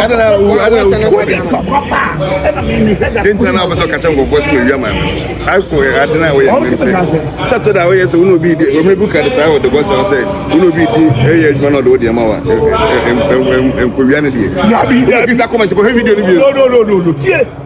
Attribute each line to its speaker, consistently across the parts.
Speaker 1: ɛna na owu ɛna owu wɔ mi ntina na abasa kakyɛ nkɔfɔ si ma wia ma mi ako adi na oyɛ mi nti tɛtɛ na oyɛ sɛ wona obi di wɔn ebu kadi saa wɔde bɔ saa sɛ wona obi di ɛyɛ adwuma na ɔde o deɛ ma wa nkowia ne deɛ ɛna kisa kɔmɛnti kɔhɛ video ni bi.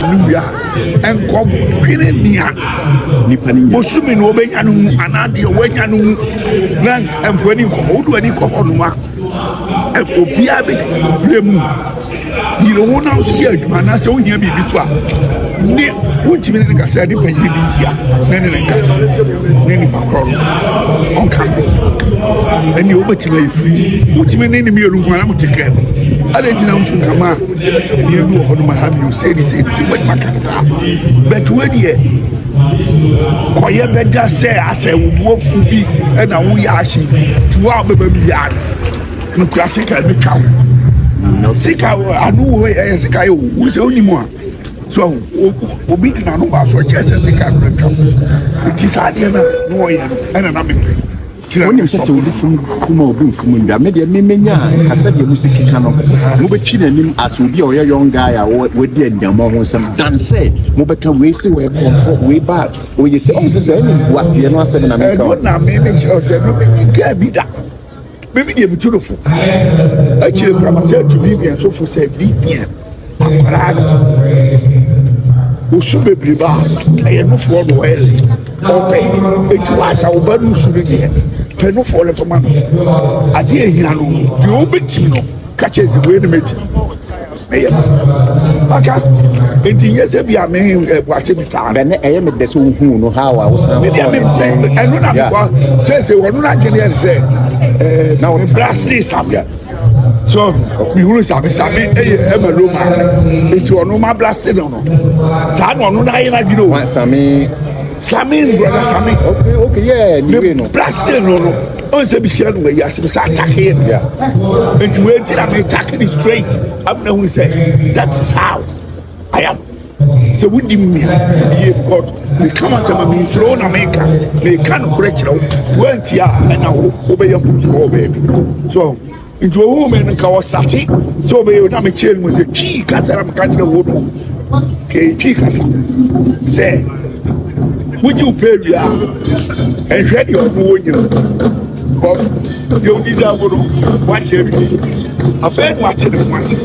Speaker 1: Hallelujah. Nkɔ dwene nea bosome na wɔbɛnya no mu anaa deɛ wɔanya no mu na nkɔ ani kɔ hɔ wodo ani kɔ hɔ nom a obiara bɛbrɛ mu yere wo nam so yɛ adwuma anaasɛ wohia biribi so a ne wontumi ne ne kasa nipa yere bi nhyia na ne ne nkasa ne nipa korɔ no ɔnka ho ɛnni wobɛtumi ayɛ firi wotumi ne ne mmienu nko ara mo te kɛm adɛn nti na wotumi ka ma ɛdeɛ bi wɔ hɔ no ma ha bio sei ne sei ne sei wobɛtumi aka no saa but wodeɛ kɔyɛ bɛda sɛ asɛ wobuafu bi ɛna woyɛ ahye nti wo a wobɛba bi yɛ ano mekura sika bɛtwa wo sika ano wɔ ɛyɛ sika yɛ wo wo sɛ wonim a So obi de n'ano ba so ɔkyerɛ sɛ sika no atwa nti saa adeɛ no na ɔyɛ no ɛna na mepɛ wonim sɛ sɛ obi fom kuma obi mfom ndwa me deɛ memenya kasɛ deɛ mu sɛ keka no mobɛtwe n'anim asɛ obi a ɔyɛ young guy a wadi anyammɔ ho nsɛm dan sɛ mobɛka wei sɛ wɔyɛ kɔmfɔ wei ba ɔyɛ sɛ ɔhu sɛ sɛ ɛne mboaseɛ no asɛm na meka na memekyerɛ sɛ no menyi kaa bi da Mimi deɛ metu no fo akyire kora ma sɛ atu vivian so fo sɛ vivian akwaraa no osu bebree ba ɛyɛ nofoɔ no ɔyɛle ɔpɛ eti waasa ɔba no su no deɛ pɛ nofoɔ no fama no adeɛ ehia no deɛ ɔbɛtumi no kakyɛ nsi wei no mɛtumi. meyɛ maka nti nyɛ sɛ bi a me ɛboakye bi taa ɛnɛ ɛyɛ me dɛ sɛ wohuu no ha a wosan kɔ ne nkyɛn ɛno na mekɔ sɛsɛ wɔno no adwene ɛne sɛ na mebrɛ ase sameɛ so mehunu same same ɛyɛ ɛma lo maa me nti ɔno mabrɛ ase no no saa na ɔno no ayɛ no adwene o same same brɔda same okay okay yeah ne wei no brɛ ase no no ɔn sɛ mehyia no wayi ase mesɛ atake yɛ bia nti wei nti na metake ne straight afei na hu sɛ that is how I am sɛ wodi me yie because meka ma sɛ ma mensuro wo na meka meka nokorɛ kyerɛ wo woanti a ɛna wo wobɛyɛ foforɔ baabi so Nti ohuu me no nka ɔsate sɛ ɔbɛyɛ na mekyerɛ no mu sɛ twii kasa na meka kyerɛ wo no kɛɛ twii kasa sɛ wogye wo pɛ wie a ɛnhwɛ deɛ ɔno wɔ nyina kɔ deɛ wodi sɛ wo no woakyɛ awie afei no ate ne ho ase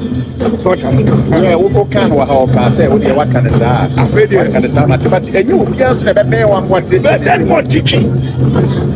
Speaker 1: wokɔka no wɔ ha ɔkaa sɛ wodeɛ woaka no saa afei deɛ woaka no saa matemate ɛnyɛ obiaa so na ɛbɛbɛn wɔ akoateɛ bɛsɛ ne mɔtiki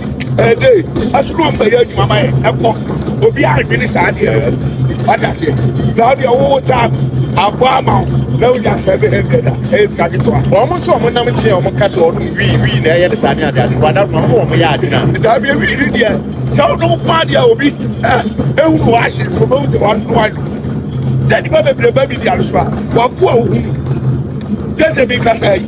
Speaker 1: Ɛde asukuu mpɛyɛ adwuma ma yɛ ɛkɔ obiara adwene saa adeɛ no wate aseɛ na wode ɔwowo taa abɔ ama wo na wonya sɛbe hundred a ɛyɛ sika ketewa wɔn nso wɔn nam kyeɛ wɔn ka sɛ wɔnom wii wii na ɛyɛ ne saa ne adeade wada ma wɔn wɔn yɛ adwene a daabia wii ne deɛ sɛ wonom ko adeɛ a obi ɛhu no wɔahye so bɛhu sɛ wɔano ano sɛ nnipa bebree ba bi di alo so a wɔaboa wo hu sɛ sɛ bi kasa yi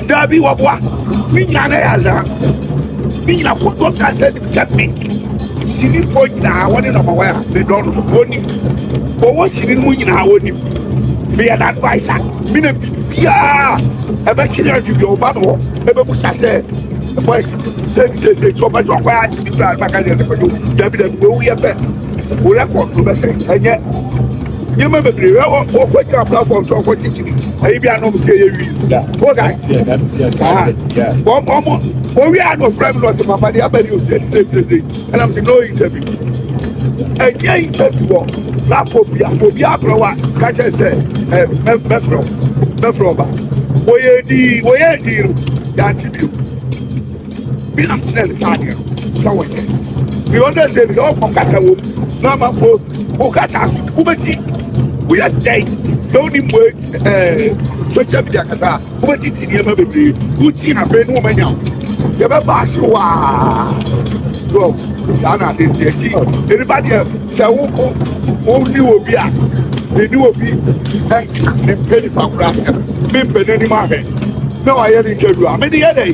Speaker 2: Dabi waboa
Speaker 1: me nyina na ya za me nyina ko to ta sɛ nim sɛ me sini fo nyina wo ne nɔma waya me dɔ no wo nim o wo sini mu nyina wo nim me ya na advice a me na bi bia e ba chiri adu bi o ba no e ba busa sɛ boys sɛ sɛ sɛ to ba jo kwa a bi ba ka sɛ dabi dabi wo yɛ bɛ wo record no bɛsɛ ɛnyɛ nneɛma bebree wɔ wɔkɔ gyina platform so wɔkɔ kyikyiri ɛyi bi anam sɛ ɛyɛ wi o da wɔn wɔn owi a na ofura mi na ɔte papa de abɛn yi ose ɛdi ɛdi ɛdi ɛnam sɛ no interview ɛnyɛ interview wɔ platform bi a obi abɛrɛ wa kakyɛ sɛ ɛ mɛ mɛfrɛ mɛfrɛ ɔba wɔyɛ di wɔyɛ di no yɛ ati bi o. Bilam kyerɛɛ no saa adeɛ no sɛ wɔnyɛ. Deɛ ɔda sɛ bi na ɔkɔ kasa wɔ mu na amafo wo kasa so wobɛti woyɛ dɛn sɛ wode mmue eh, social media kasa a wobɛti ti nneɛma bebree woti na afei ne wɔmanya wo yɛbɛba ase hɔ a so saa na ade nti akyi ɛnipa deɛ sɛ woko wonni wɔ bi a ɛni wɔ bi ɛnka ne mpɛ nipa kora mempɛ n'anim ahwɛ na wayɛ ne ntwa du a mede yɛ dɛn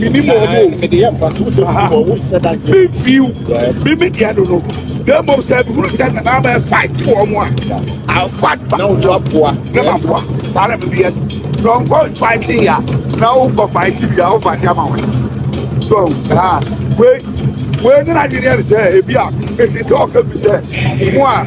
Speaker 1: Mimi mo ɔmo o. Mede yɛ mfa
Speaker 2: to so ha. Mo nsɛ da yɛ. Mi fi o.
Speaker 1: Mimi deɛ no no. Bɛn mo sɛ mi huru sɛ na naa bɛ fight wɔ ɔmo a. I fight back. Na o to aboa.
Speaker 2: Na ma aboa.
Speaker 1: Saa na mi bi yɛ. Na o nkɔ fight ya. Na o nkɔ fight ya. O fight ama wɔn. So haa. Wei wei ne na adwene yɛ ne sɛ ebi a esi sɛ ɔka bi sɛ mo a.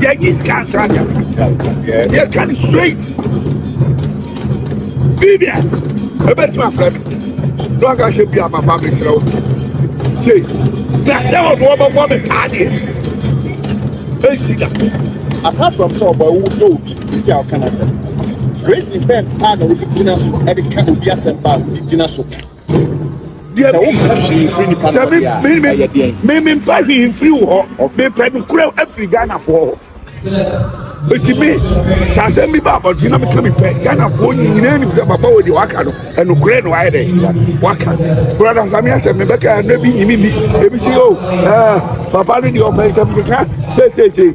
Speaker 1: yɛnyi sika nsra dɛm yɛka no straight bibia ɛbɛtumi afrɛ me na ɔka hyɛ bia papa mesrɛ wo sei na sɛ ɔno ɔbɛbɔ me paa deɛ ɛnsi da apart from
Speaker 2: sɛ ɔbɔ ɛwo dɔ obi nti a ɔka no asɛm reason bɛn a na wode gyina so de ka obi asɛm ba a wode gyina so ka deɛ sɛ wompɛ hwee mfiri nipa na ɔde a ɛyɛ deɛn me
Speaker 1: mempɛ hwee mfiri wo hɔ mepɛ no kura afiri ghanafoɔ hɔ ɛtumi sɛ asɛm bi ba abɔnten na meka mepɛ ghanafoɔ nyinaa nim sɛ baba wɔ deɛ waka no ɛnokorɛ na wayɛ dɛ waka brada samea sɛ mebɛka ɛnɛ bi nyimi bi ɛbi sɛ o papa no deɛ ɔpɛ nsɛm keka seeseesei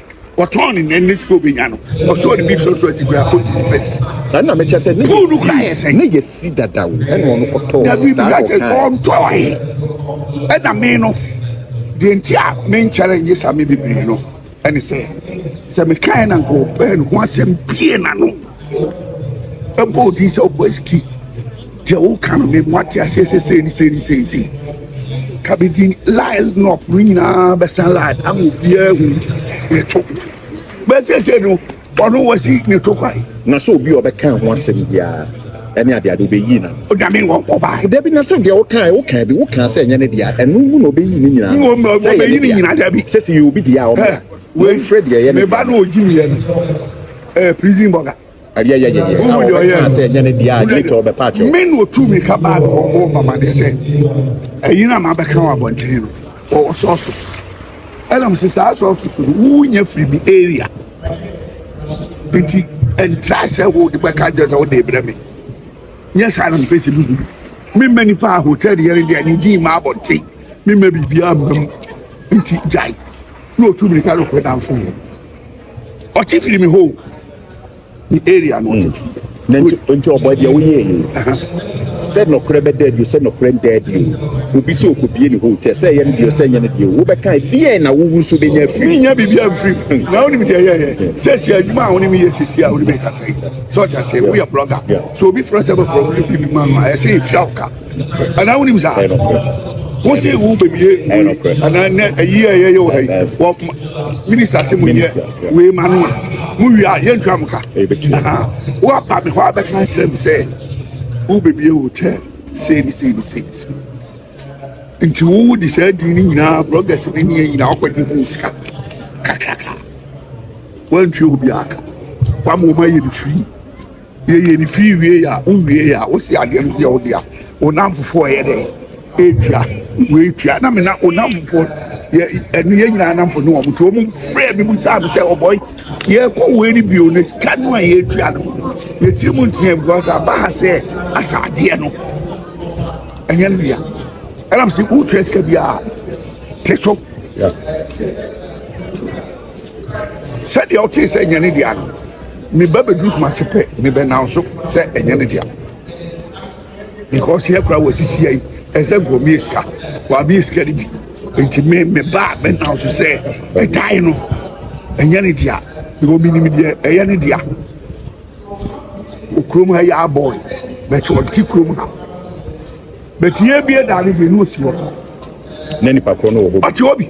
Speaker 1: wɔtɔn ne nɛn ne sika obenya no ɔsɔ ne bi sɔ so asi kura kɔnti ne fɛnsi. na nna mekyɛ
Speaker 2: sɛ ne yɛsi ne yɛsi dadaw ɛna ɔno kɔtɔɔ dabi saa bia kyɛ ɔkan
Speaker 1: ɔntɔɔe ɛna me no deɛ nti a menkyɛre nye saa me bebree no ɛne sɛ sɛ mekae na nkɔɔpɛɛ no ho asɛm pie na no ɛbɔ wo din sɛ wokɔ aski deɛ woka no memu ate aseɛ sɛ sei ne sei ne sei sei ka bi din line up no nyinaa bɛsan line ama obiara hu ne to bɛsɛsɛ no ɔno wasi ne to kwae na sɛ obi a ɔbɛka
Speaker 2: ho asɛm biara ɛne adeade wobɛyi na onyame wɔ nkɔbae
Speaker 1: dabi na sɛ deɛ wokaa
Speaker 2: wokaa bi wokaa sɛ ɛnyɛ ne deɛ ɛno mu na ɔbɛyi ne nyinaa sɛ ɛyɛ ne deɛ sɛ sɛ yɛ obi deɛ a ɔmɛ wɔmfrɛ deɛ ɛyɛ ne deɛ meba no ɔgyi mmiɛ no Eh, prison burger. Ɛdeɛ yɛ yɛyɛ. Wohu deɛ ɔyɛ no. sɛ ɛnyɛ ne deɛ a later ɔbɛpa akyɛw. Me na ɔtu mirika
Speaker 1: baa no hɔ bɔɔ mamadeɛ sɛ ɛyi no a mabɛka wɔ abɔntene no wɔwɔ sɔɔsos. Ɛna mese saa sɔɔsos no wonya firi bi area nti ɛntra sɛ wode bɛka nkyɛ sɛ wode brɛ me nyɛ saa na mepɛ sɛ mehu memma nipa a hotel deɛ ne deɛ ne din ma abɔnten memma biribiaa mmam nti gyae na ɔtu mirika no kɔdamfo mu ɔkye firi me hoo ne area no ɔkye firi na nti nti
Speaker 2: ɔbɔ deɛ woyɛ yi sɛ nɔkorɛ bɛda adi sɛ nɔkorɛ nda adi o obi sɛ ɔkɔbie ne hotel sɛ ɛyɛ no deɛ sɛ ɛnyɛ no deɛ wobɛka deɛ na wowu so bɛnya afiri menya biribia mfiri hmm. na
Speaker 1: wonim deɛ yɛyɛ hmm. sɛ si adwuma a wone meyɛ sɛsi a wone mekasa yi sɛ ɔkyɛ sɛ woyɛ blɔga sɛ obi frɛ sɛ bɛbrɔ bi ma no a ɛsɛ yɛtua wo ka anaa wonim saa ɛyɛ nokorɛ wo se wo bɛbie ɛyɛ nokorɛ anaa nɛ ɛyi a yɛyɛ wɔ ha yi wɔ minista ase mu yɛ wei ma no a mo wie a yɛntua mo ka Aha. woaba me hɔ a bɛka akyerɛ me sɛ wo bɛbie hotel sei ne sei ne sei ne sei nti wo de saa din no nyinaa bloggers ne neɛ nyinaa wokɔgye ho sika kakraka woantua obiaa ka woama wɔma yɛ no firi Yɛyɛ no fii wiei a, wo wiei a, wo si adeɛ no so yɛ wo dea. Wo nnamfofoɔ yɛ dɛ ɛtua, wei tua. Na me na wo nnamfofoɔ, yɛ ɛne yɛn nyinaa nnamfo ne wɔn. Nti wɔn frɛɛ me bisaa me sɛ, ɔbɔe, yɛrekɔ wei ne bio na sika no a yɛretua no, yɛ tiri mu nteɛ because aba ha sɛ asa adeɛ no, ɛnyɛ no dea. Ɛnam sɛ wotua sika biara te so. Yeah. Sɛdeɛ ɔtee sɛ ɛnyɛ ne dea no, ne ba bɛduru Kumasi pɛ, ne bɛ nam so sɛ ɛnyɛ ne dea because yɛ koraa wɔasisi yɛ yi, ɛsɛ sɛ nkɔmie sika, wɔamie sika no bi nti me me ba bɛ nam so sɛ ɛdan no ɛnyɛ ne dea because menim deɛ ɛyɛ ne dea okurom ha yɛ abɔe bɛtɛ ɔte kurom ha bɛtɛ yɛ bie daa ne deɛ ne ɔsi hɔ na nipa
Speaker 2: korɔ no wɔ hɔ ɔte hɔ bi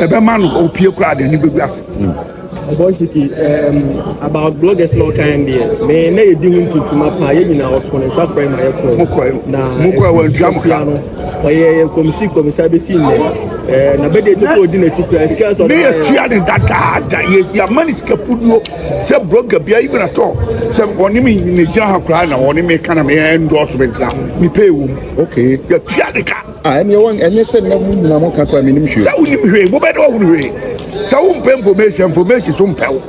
Speaker 1: ɛbɛma no opie koraa de ani bɛgu ase. Ɔbɔ nsiki
Speaker 3: about bloggers na ɔkan deɛ me na yɛdi ho ntuntuma paa yɛ nyinaa ɔto ne nsa frɛ ma yɛkɔ na
Speaker 1: ɛtua no ɔyɛ kɔmisi
Speaker 3: kɔmisa bɛsi nnɛ na bɛdeɛ kyɛ kɔ ɔdi n'akyi koraa sika sɛ ɔbɛyɛ yɛtua ne
Speaker 1: dadaada yɛama ne sika puduo sɛ blogger bia even at all sɛ ɔne me ne gyina ha koraa na ɔne me ka na meyɛ ndɔɔso bɛntena mepɛ ɛwom yɛtua
Speaker 2: ne ka
Speaker 1: Ah, ɛneɛ wɔn ɛnyɛ sɛ
Speaker 2: na mu nyina mo ka kɔ a menim hwee. Sɛ wonim hwee, mo bɛdɛ
Speaker 1: wɔhunu hwee. Sɛ wompɛ information, information so mpɛ wo.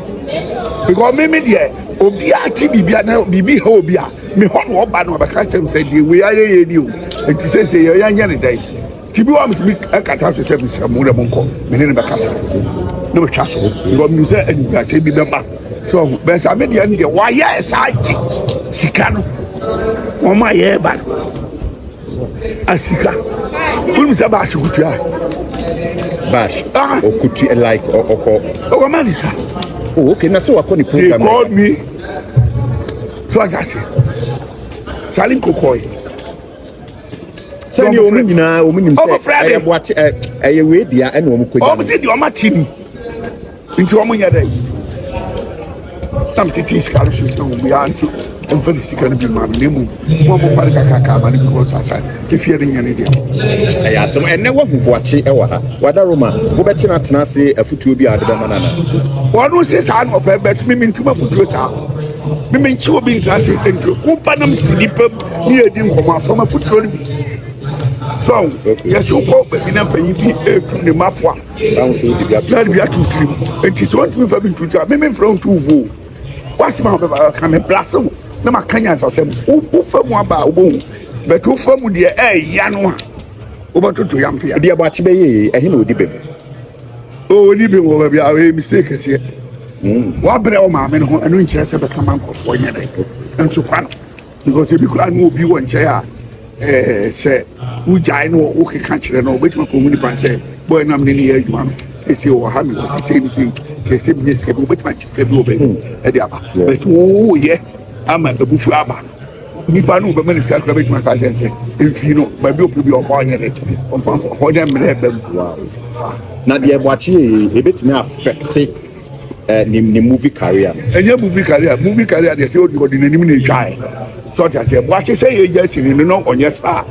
Speaker 1: Because me me deɛ, obi a te biribi a na biribi ha obi a, me hɔ na ɔba na ɔbɛka kyerɛ me sɛ deɛ wei ayɛ yɛ ni o. Nti sɛ sɛ yɛ yɛnyɛ ne dɛn. Ti bi wa metumi ɛkata so sɛ mesrɛ mo dɛ mo nkɔ, me ne ne bɛkasa. Na metwa so. Because menim sɛ animguaseɛ bi bɛba. So ɔho, bɛsa me deɛ ne deɛ, wɔayɛ saa gye sika no. Wɔn a yɛreba no. asika wonim sɛ bash kutua
Speaker 2: bash ah. okutua like ɔkɔ ɔkɔ ma
Speaker 1: ne sika oh okay na
Speaker 2: sɛ wakɔ ne program they called me
Speaker 1: so ata se sale nkokɔe
Speaker 2: sɛdeɛ wɔn nyinaa wɔn nim sɛ ɛyɛ boakye ɛyɛ wei dea ɛna wɔn kɔ gya no wɔn ti di wɔn ati ni.
Speaker 1: Nti wɔn nyɛ dɛ na mi titi sika no so sɛ obiara nti nfa ne sika no bi ma no na emu mo a mo fa no kakraka ama no bi wɔ sasa efie no nyɛ ne deɛ. ɛyɛ asɛm
Speaker 2: ɛnɛ wahu boakye ɛwɔ ha wada roma wobɛtena tena ase afutuo
Speaker 1: bi a
Speaker 2: de
Speaker 1: bɛma no
Speaker 2: ana wɔn
Speaker 1: se
Speaker 2: saa
Speaker 1: na ɔpɛ bɛt
Speaker 2: mimi
Speaker 1: ntoma
Speaker 2: futuo saa
Speaker 1: mimi nkyi obi ntena ase ntuo woba nam si nipa mu ne yɛ di nkɔmɔ afɔm afutuo no bi so yɛso kɔ baabi na mpanyin bi etu ne mafo a Bible
Speaker 2: sɛ wode bi ato na bi ato tirim
Speaker 1: nti sɛ wontumi mfa bi nto tirim a me memfrɛ wo nto wo vuo woasɛm a wobɛba ka me blase wo na maka nyansasɛm wofa mu aba a wobɛhu but wofa mu deɛ ɛɛya no a wobɛtoto yampea deɛ bɔakye bɛyɛ
Speaker 2: ɛhe na ɔdi bem
Speaker 1: ɔni bem wɔ baabi a ɔyɛ mistake kɛseɛ hmm. woabrɛ wo maame no ho ɛno nkyerɛ sɛ bɛka ma nkɔfoɔ nyɛ dɛ nso kwa no Because ebi koraa no obi wɔ nkyɛn a ɛɛ sɛ wogyae no wokeka kyerɛ no wobɛtumi akɔhu nipa sɛ bɔyɛ nam ne ne yɛ adwuma no sɛsɛ wɔ ha mewɔ sesei ne sei kyerɛ sɛ menyɛ sika bi wobɛtumi agye sika bi wɔ baabi hmm. ɛde aba but woyɛ ama abufuo aba nipa no bɛma ne sika kora bɛtumi aka kyerɛ sɛ ɛmfii no baabi ɔpɛ bi ɔfa ɔnyɛ ne ɔfa hɔ dɛ mmerɛ bam
Speaker 2: na deɛ ɛbɔakye yɛ ɛbɛtumi afɛkte eh, ne, ne movie career no. Ɛnyɛ movie career,
Speaker 1: movie career deɛ sɛ ɔde n'anim na ɛtwae. Sɛ ɔte aseɛ, boakye sɛ yɛ gya sini no na ɔnyɛ star.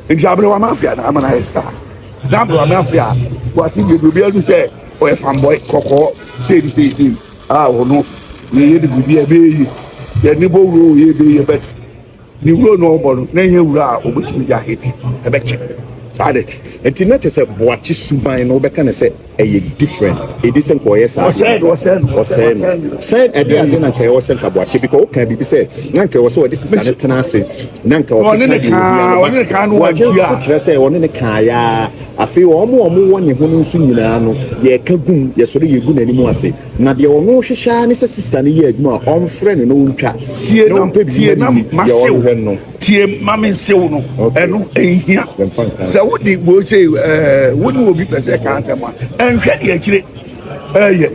Speaker 1: Nti aberewa mafia na ama no ayɛ star. Na aberewa mafia, boakye deɛ deɛ obiara hu sɛ ɔyɛ fanboy kɔkɔɔ sei ne sei sei. A ɔno, yɛyɛ de biribi a ɛbɛyɛ yi. Yɛne bɔ wuro yɛ ɛbɛyɛ bɛte. Ne wura no a ɔbɔ no, na ɛnyɛ wura a obetumi de ahete bɛkyɛ. Saa de, enti na kyerɛ sɛ
Speaker 2: boakye suban no wobɛka no sɛ ɛyɛ different. Edi sɛ nka ɔyɛ saa de a, ɔsɛe
Speaker 1: no.
Speaker 2: Sɛ ɛde ade na nka ɛwɔ sɛ nka boakye bi ka ɔka biribi sɛ na nka ɛwɔ sɛ ɔde sesa no tena ase na nka ɔkeka deɛ ohia
Speaker 1: no ba. Boakye nso so kyerɛ sɛ ɔne
Speaker 2: no kaeɛ ara. Afei wɔn a wɔwɔ ne ho no nso nyinaa no, yɛka gum, yɛsɔre yegu n'anim ase. Na deɛ ɔno hwehwɛ ara ne sɛ sista no yɛ adwuma a ɔmfrɛ no na ɔntwa na ɔmpɛ biribi
Speaker 1: ma ne ni, deɛ ɔrehwɛ no. Tie ma me nsew no, ɛno ɛnhia. Sɛ wode wei sei ɛɛ wo ne obi pɛ sɛ ɛka asɛm a, ɛnhwɛ deɛ akyire ɛɛyɛ.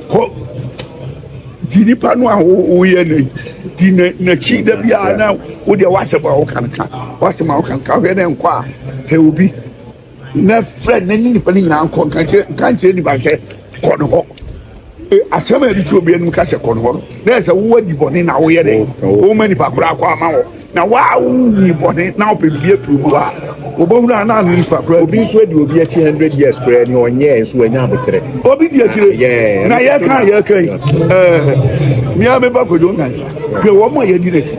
Speaker 1: Kɔ di nipa no a woyɛ no di n'akyi da biara na wodeɛ w'asɛm a woka no ka w'asɛm a woka no ka wohwɛ na ɛnkɔ a pɛ obi. na frɛ na ne nipa no nyinaa nkɔ nka kyerɛ nka nkyerɛ nipa sɛ kɔ ne hɔ e, asɛm a yɛde to obi anim ka sɛ kɔ ne hɔ no na ɛsɛ wo adi bɔne na woyɛ dɛ woma nipa koraa kɔ ama wɔ na waa wonyi bɔne na wopɛ biribi afiri mu a wɔbɛhunu a na ano nipa koraa obi nso adi obi akyi
Speaker 2: 100 years koraa ni ɔnyɛɛ nso wanya aboterɛ obi di akyire
Speaker 1: na yɛka yɛka yi mea meba kwadwo nkansa hwɛ wɔn a yɛdi n'akyi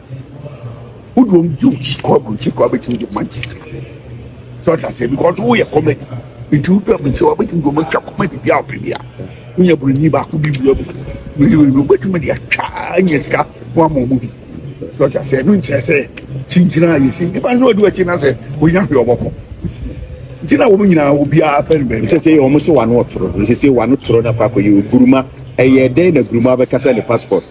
Speaker 1: wo dɔm di okyi kɔ aburokyi kɔ abɛtumi de ma gyesi sɛ ɔte aseɛ because woyɛ comedy nti wodɔ aburokyi wa bɛtumi de ɔmo atwa comedy bi a ɔpɛ bi a wonya buroni baako bi wura mu wei wobɛtumi de atwa anya sika ho ama ɔmo bi sɛ ɔte aseɛ ɛno nkyerɛ sɛ kyinkyina a yɛsi nnipa nso ɔde wakyi na sɛ ɔnya hwee ɔbɔkɔ nti na wɔn nyinaa obiara pɛ no baabi sɛ sɛ wɔn se wano
Speaker 2: ɔtoro sɛ sɛ wano toro na kɔ akɔyɛ oguruma ɛyɛ dɛn na guruma bɛkasa ne passport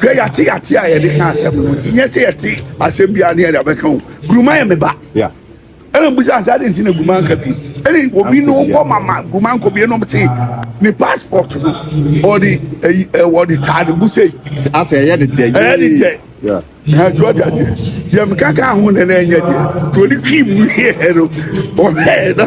Speaker 1: Hwɛ, yɛate ate a yɛde ka asɛm no, nyɛ sɛ yɛte asɛm biara ne yɛde abɛka o. Guruma yɛ me ba. Ɛna mbisa sɛ adɛn nti na Guruma nka bi. Ɛne obi no wɔ mama Guruma nkɔ bi nom te ne passport no ɔde ɛyi ɔde taa ne bo sei. Asɛ ɛyɛ ne dɛ.
Speaker 2: Ɛyɛ ne dɛ. Na ɛtoa
Speaker 1: de ase. Deɛ meka ka ho na na ɛnyɛ deɛ. Deɛ ɔde twi mu yɛ no ɔhwɛɛ no.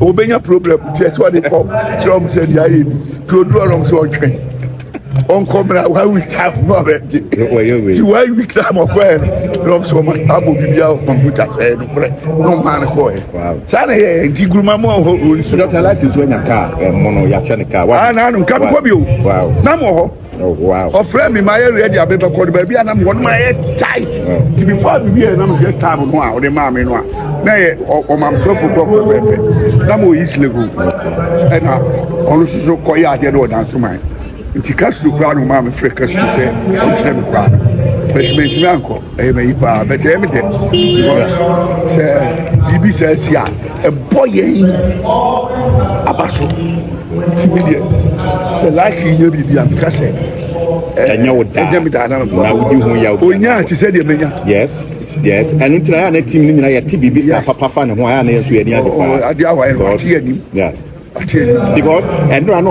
Speaker 1: Obenya problem nti ɛsɛ ɔde kɔ kyerɛ ɔmo sɛ deɛ ayɛ ni nti odu ɔnom sɛ ɔtwɛn ɔnkɔ mmerɛ a one week time no ɔbɛgye nti one week time ɔkɔɛ no na ɔmo sɛ ɔmo abɔ biribi a kɔmputa sɛɛ no korɛ na ɔmo maa no kɔɛ saa na ɛyɛ nti guruma mu a ɔhɔ ɔnsu. Dɔkta Lati nso anya
Speaker 2: kaa ɛmo no yɛakyɛ no kaa. Aa na ano nka mekɔ
Speaker 1: bio na mo hɔ. Ɔfrɛɛ
Speaker 2: me ma yɛ ready
Speaker 1: a mebɛkɔ no baabi a na mewɔ no ma yɛ tight nti before me wiɛ na mehwɛ time no a ɔde maa me no a na yɛ ɔmam twelve o'clock pɛpɛɛpɛ na mewɔ east legon ɛna ɔno nso so kɔyɛ adeɛ no wɔ dansoman nti kasuro koraa na ɔmaa me frɛ kasuro sɛ ɔnkyerɛ me koraa bɛtumi ntumi ankɔ ɛyɛ ma yi paa but ɛyɛ mi dɛ because sɛ biribi sɛ ɛsi a ɛbɔ yɛn aba so ti mi deɛ sɛ laaki yi nyɛ biribi a mi ka sɛ ɛnyɛ wo
Speaker 2: daa ɛnyɛ mi daa na mi bɔ na wodi ho yaw bi onya ti sɛ deɛ mi nya
Speaker 1: yes yes
Speaker 2: ɛnu ti na yà na ti mi ni nyina yɛ ti biribi sɛ papa fa ne ho a yà na yɛ nso yɛ ni adi
Speaker 1: paa
Speaker 2: adi
Speaker 1: awa yɛ
Speaker 2: no
Speaker 1: ati
Speaker 2: yɛ nim ati yɛ nim because ɛnura no.